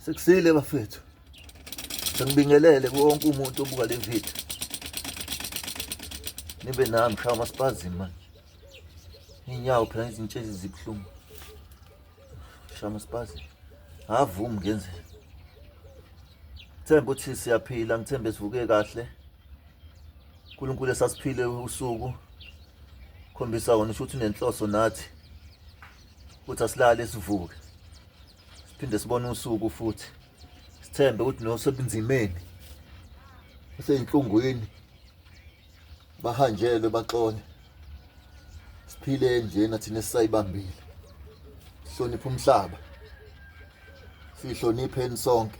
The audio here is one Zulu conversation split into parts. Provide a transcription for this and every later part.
Sekusile bafethu. Sengibingelele kuwonke umuntu obuka le video. Nibe nami shawa masipazi manje. Inyawo phela izintshezi zibuhlungu. Shawa masipazi. Avumi ngenzeni. Themba uthi siyaphila ngithembe sivuke kahle. uNkulunkulu esasiphile usuku khombisa wona ukuthi unenhloso nathi ukuthi asilale sivuke siphinde sibone usuku futhi sithembe ukuthi nosebunzimeni useyinhlungwini bahanjelwe baxole siphile njena thina esisayibambile sihloniphe umhlaba sihlonipheni sonke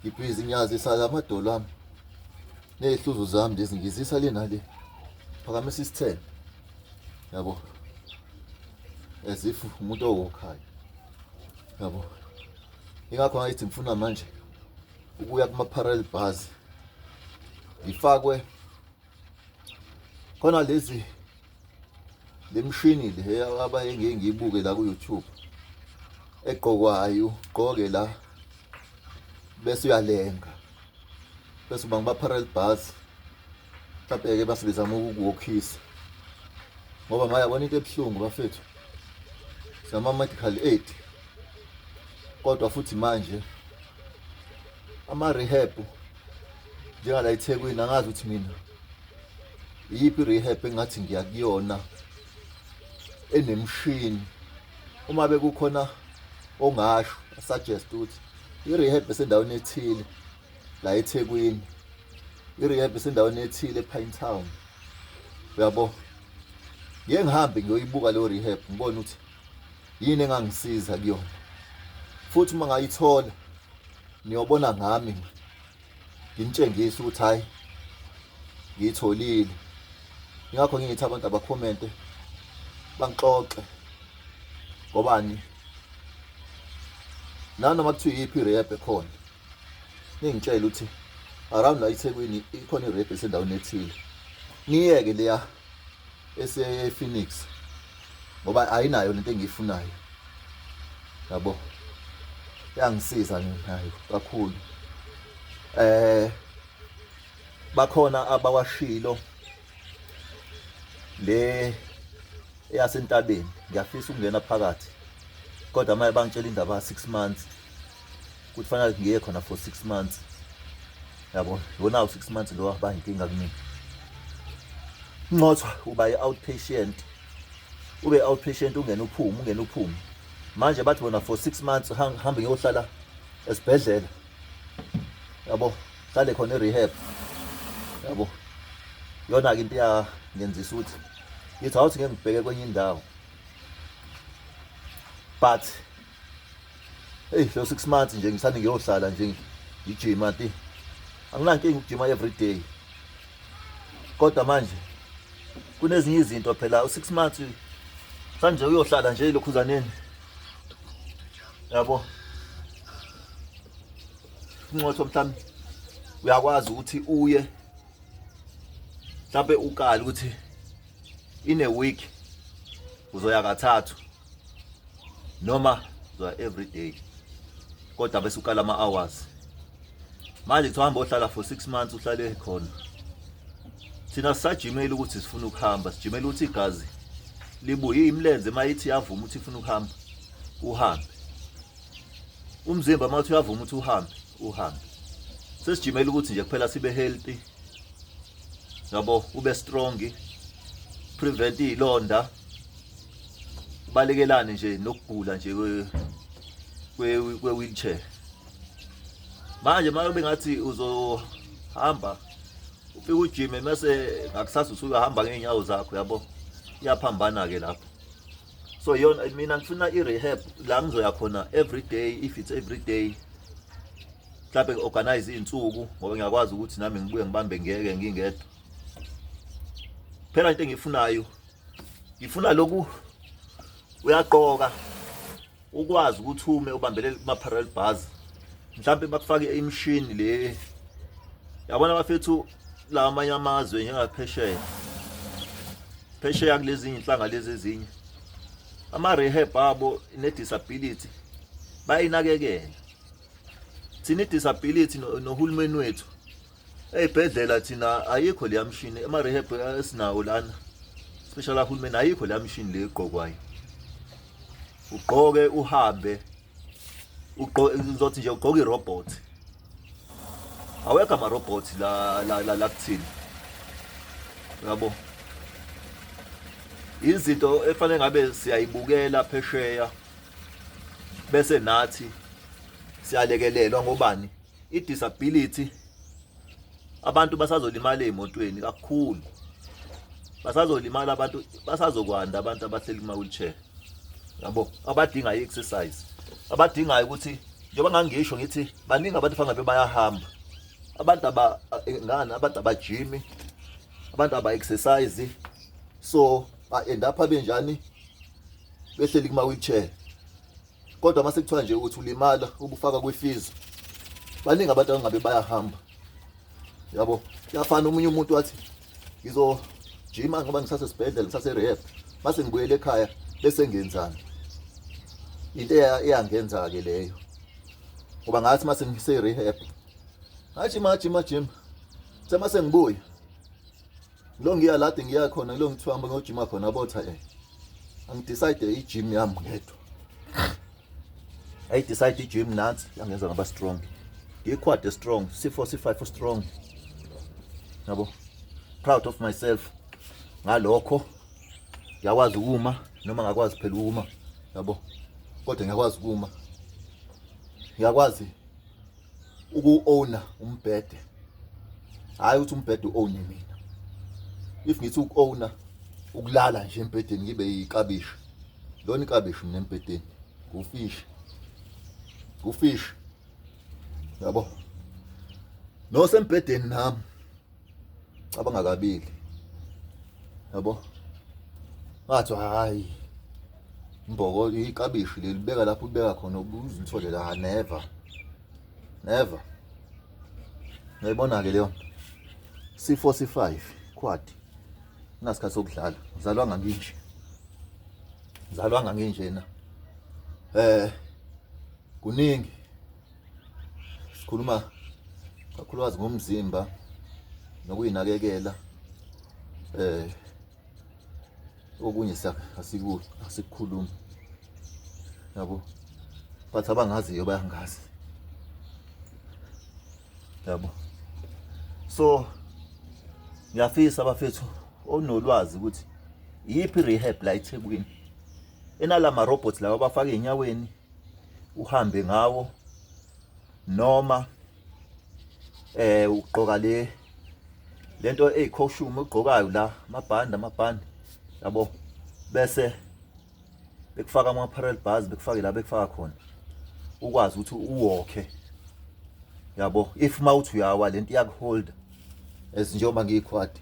ngibhizi ngiyazisa la madolo ami ney'hluzo zami lezi ngizisa le nale phakamisa isithelo yabo as if umuntu owokhayo yabo ingakho ngayithi ngifuna manje ukuya kuma-parallel bars ngifakwe khona lezi lemshini le abaye ngeke ngiyibuke la ku YouTube egqokwayo ugqoke la bese uyalenga bese uba ngiba parallel bars mhlawumbe ke base bezama ukukuwokhisa ngoba mayabona into ebuhlungu bafethu sama medical aid kodwa futhi manje ama rehab njengala ethekwini angazi ukuthi mina iyiphi rehab engathi ngiya kuyona enemshini uma bekukhona ongasho suggest ukuthi i-rehab esendaweni ethile la ethekwini i-rehab esendaweni ethile epine town uyabo ngeke ngihambe ngiyoyibuka leyo rehab ngibone ukuthi Yini engangisiza kuyona? Futhi uma ngayithola niyobona ngami nginitshengise ukuthi hayi ngiyitholile. Ingakho ngingithi abantu abakhomente bangixoxe ngobani nanoma kuthiwa iyiphi i-rap ekhona ningitshele ukuthi around la ithekwini ikhona i-rap esendaweni ethile niyeke leya esePhoenix ngoba ayinayo lento engiyifunayo yabo yangisiza nayo kakhulu eh bakhona abawashilo le eyasentabeni ngiyafisa ukungena phakathi kodwa maye bangitshela indaba 6 months ukuthi fanele ngiye khona for six months yabo yona u-six months lowo ahba inkinga kumina ncothwa uba i-outpatient ube i-outpatient ungena uphume ungena uphume manje bathi bona for six months hambe ngiyohlala esibhedlela yabo hlale khona i-rehab yabo yona-ke into yangenzisa ukuthi ngithi awuthi ngeke ngibheke kwenye indawo but Hey, so 6 months nje ngisani ngiyohlala nje ngijima ti. Anginankinga ukujima every day. Kodwa manje kunezinye izinto phela u6 months sanje uyohlala nje lokhuzaneni. Yabo. Inqotho mhlawumbe uyakwazi ukuthi uye mhlawumbe ukali ukuthi in a week uzoya kathathu noma zwa every day kodwa bese ukala ama hours manje kuthiwa hamba ohlala for 6 months uhlale khona thina sisajimela ukuthi sifuna ukuhamba sijimela ukuthi igazi libuye imlenze mayithi yavuma ukuthi ifuna ukuhamba uhambe umzimba mathi uyavuma ukuthi uhambe uhambe sesijimela ukuthi nje kuphela sibe healthy yabo ube strong prevent izilonda balekelane nje nokugula nje kwe-wheelchair manje uma kube ngathi uzohamba ufike ujime mese ngakusasa usuyahamba ngey'nyawo zakho yabo iyaphambana-ke lapho so yona mina ngifuna i-rehab la ngizoya khona every day if it's every day mhlawumbe ngi-organize iy'nsuku ngoba ngiyakwazi ukuthi nami ngibuye ngibambe ngeke ngingedwa phela into engiyifunayo ngifuna lokhu uyaqoka ukwazi ukuthi ume ubambelele kuma parallel bars mhlawumbe bakufake imishini le yabona bafethu la amanye amazwe njengaphesheya phesheya kulezi inhlanga lezi ezinye ama rehab abo ne disability bayinakekela thina disability nohulumeni wethu Eyibhedlela thina ayikho leya mshini ema rehab esinawo lana. Special kahulumeni ayikho leya mshini le igqokwayo. Ugqoke uhambe ugqoke ngizothi nje ugqoke irobot. Awekho ama robot la la la, la kuthini. Yabo. Izinto efanele ngabe siyayibukela phesheya bese nathi siyalekelelwa ngobani i-disability abantu basazolimala emotweni kakhulu basazolimala abantu basazokwanda abantu abahleli kuma wheelchair yabo abadinga i-exercise abadingayo ukuthi njengoba ngangisho ngithi baningi abantu fangabe bayahamba abantu aba eh, ngani abantu abajimi abantu aba exercise so ba end up benjani behleli kuma wheelchair kodwa uma sekuthiwa nje ukuthi ulimala ubufaka kwifizo baningi abantu abangabe bayahamba yabo kuyafana omunye umuntu wathi ngizojima ngoba ngisasesibhedlela ngisaserehab mase ngibuyele ekhaya bese ngenzani into eyangenza-ke leyo ngoba ngathi mase ngiserehab ngajima jima jima semase ngibuye lo ngiya lade ngiya khona kulo ngithiwa hamba ngiyojima khona botha eh angidecide i-gym yami ngedwa ayidecide i-gym nansi yangenza ngaba strong ngiyiquad strong c4 c5 strong yabo proud of myself ngalokho ngiyakwazi ukuma noma ngakwazi phela ukuma yabo kodwa ngiyakwazi ukuma ngiyakwazi uku-owna umbhede hhayi ukuthi umbhede u-owne mina if ngithi uku-owna ukulala nje embhedeni ngibe yikabishi lona ikabishi mina embhedeni ngufishi ngufishi yabo nosembhedeni nami cabanga kabili yabo ngathi hayi mboko ikabishi lelibeka lapho ubeka khona ubuzithole la never never ngiyibona ke leyo sifo si5 quad nasikhathi sokudlala uzalwa nganginje uzalwa nganginje na eh kuningi sikhuluma kakhulukazi ngomzimba nokuyinakekela eh okunye asiku asikukhuluma yabo but abangaziyo bayangazi yabo so ngiyafisa abafethu onolwazi ukuthi iyiphi rehab la eThekwini enalama robots lawa abafaka enyaweni uhambe ngawo noma eh ugqoka le lento eyicostume ogqokayo la amabhandi amabhandi yabo bese bekufaka ama parallel bars bekufake la bekufaka khona ukwazi ukuthi uwokhe yabo if mawuthi uyawa lento iyakuholda as njengoba ngiyikhwadi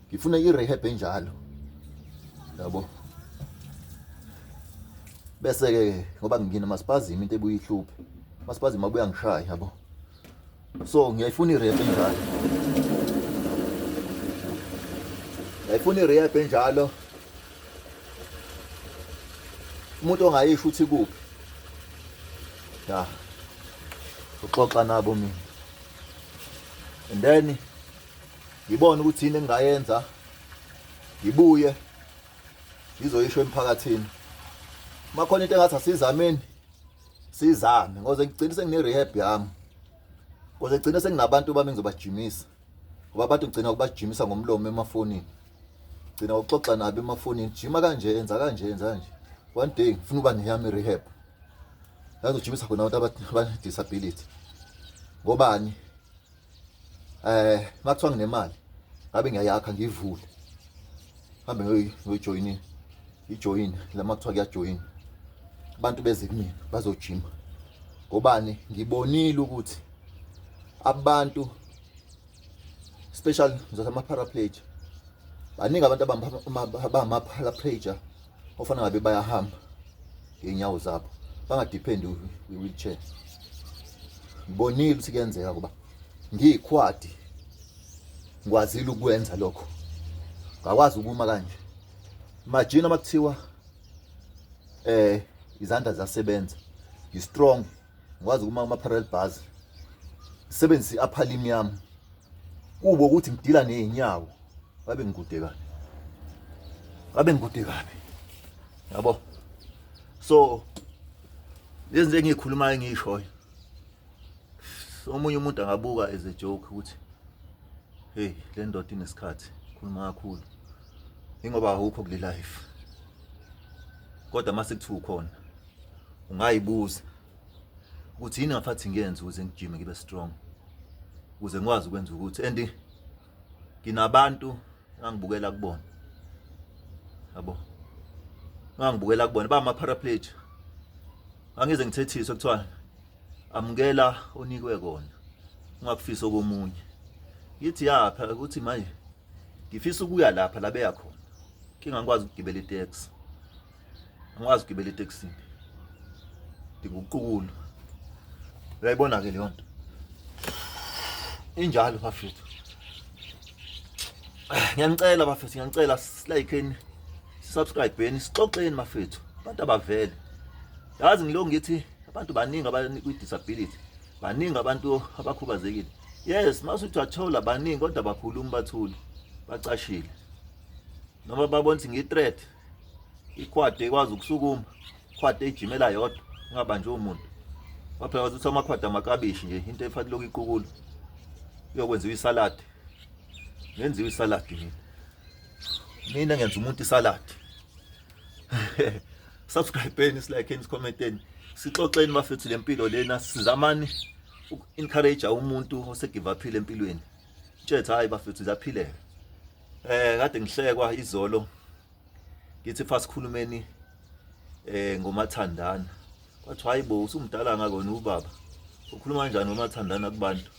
ngifuna i-rehab enjalo yabo bese-ke ngoba ngingina masipazima into ebuye ihluphe masipazima abuya ngishaya yabo so ngiyayifuna i-rehab enjalo ngiyayifuna i-rehab enjalo umuntu ongayisho ukuthi kuphi ya uxoxa nabo mina and then ngibone ukuthi yini engingayenza ngibuye ngizoyisho emphakathini uma khona into engathi asizameni sizame ngoze ngigcine sengine-rehab yami ngoze ngigcine senginabantu bami ngizobajimisa ngoba abantu ngigcina ukubajimisa ngomlomo emafonini gcina uxoxa nabo emafonini jima kanje enza kanje enza kanje one day ngifuna uba neyami rehab yazojimisa khona abantu abane-disability ngobani eh makuthiwa nginemali ngabe ngiyayakha ngivule hambe ngiyojoyina ijoyini lama kuthiwa kuyajoyina abantu beze kumina bazojima ngobani ngibonile ukuthi abantu special ngizothi ama-paraplegia baningi abantu abangama-paraplegia ofana ngabe bayahamba ngeenyawo zabo bangadephendi kwi-wheelchair ngibonile ukuthi kuyenzeka kuba ngiyikhwadi ngikwazile ukwenza lokho ngakwazi ukuma kanje imagine uma kuthiwa eh izandla ziyasebenza ngi-strong ngikwazi ukuma kuma-parallel bars sebenzisa i-upper limb yami kubo ukuthi ngidila ney'nyawo babe ngikude kabi babe ngikude kabi yabo so lezi nto engiyikhulumayo engiyishoyo omunye umuntu angabuka as a joke ukuthi hey le ndoda inesikhathi khuluma kakhulu ingoba awukho kule life kodwa mase kuthiwa ukhona ungayibuza ukuthi yini ngafathi ngiyenze ukuze ngijime ngibe strong ukuze ngikwazi ukwenza ukuthi and nginabantu engangibukela kubona yabo ngangibukela kubona ba ama paraplegic angize ngithethise kuthiwa amukela onikwe kona ungakufisa okomunye ngithi yapha ukuthi manje ngifisa ukuya lapha labeya khona kingangikwazi ukugibela itaxi angikwazi ukugibela etekisini ndinguqukulu uyayibona ke leyo nto injalo bafethu ngiyanicela bafethu ngiyanicela silayikeni subscribe beni sixoxeni mafethu abantu abavele yazi ngilo ngithi abantu baningi abanikwi disability baningi abantu abakhubazekile yes masuthi wathola baningi kodwa bakhuluma bathule bacashile noma babona ukuthi ngi-threat ikhwadi ekwazi ukusukuma ikhwadi ejimela yodwa ingabanjwe umuntu waphela wazi ukuthi amakhwadi amakabishi nje into efanele lokhu iqukulu uyokwenziwa isaladi ngenziwa isaladi mina mina ngenza umuntu isaladi subscribeni silakheni sikhomenteni sixoxeni bafethu lempilo lena sizamani uku-encourage umuntu osegive aphile empilweni Tshetha hayi bafethu zaphileka eh kade ngihlekwa izolo ngithi fasikhulumeni eh ngomathandana kwathiwa hayibo usumdala ngakona ubaba ukhuluma kanjani ngomathandana kubantu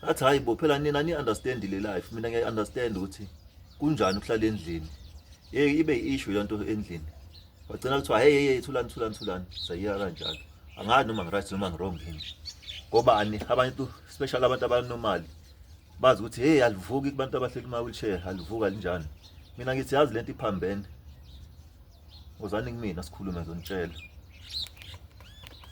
athi hayibo phela nina ni understand le life mina ngiya understand ukuthi kunjani ukuhlala endlini hey ibe issue lento endlini wagcina kuthiwa hey hey thulani thulani thulani sayiyeka kanjalo angazi noma ngiright noma ngirong yini ngoba ani abantu special abantu abanomali bazi ukuthi hey alivuki kubantu abahleli ma wheelchair alivuka linjani mina ngithi yazi lento iphambene uzani kumina sikhulume zonitshela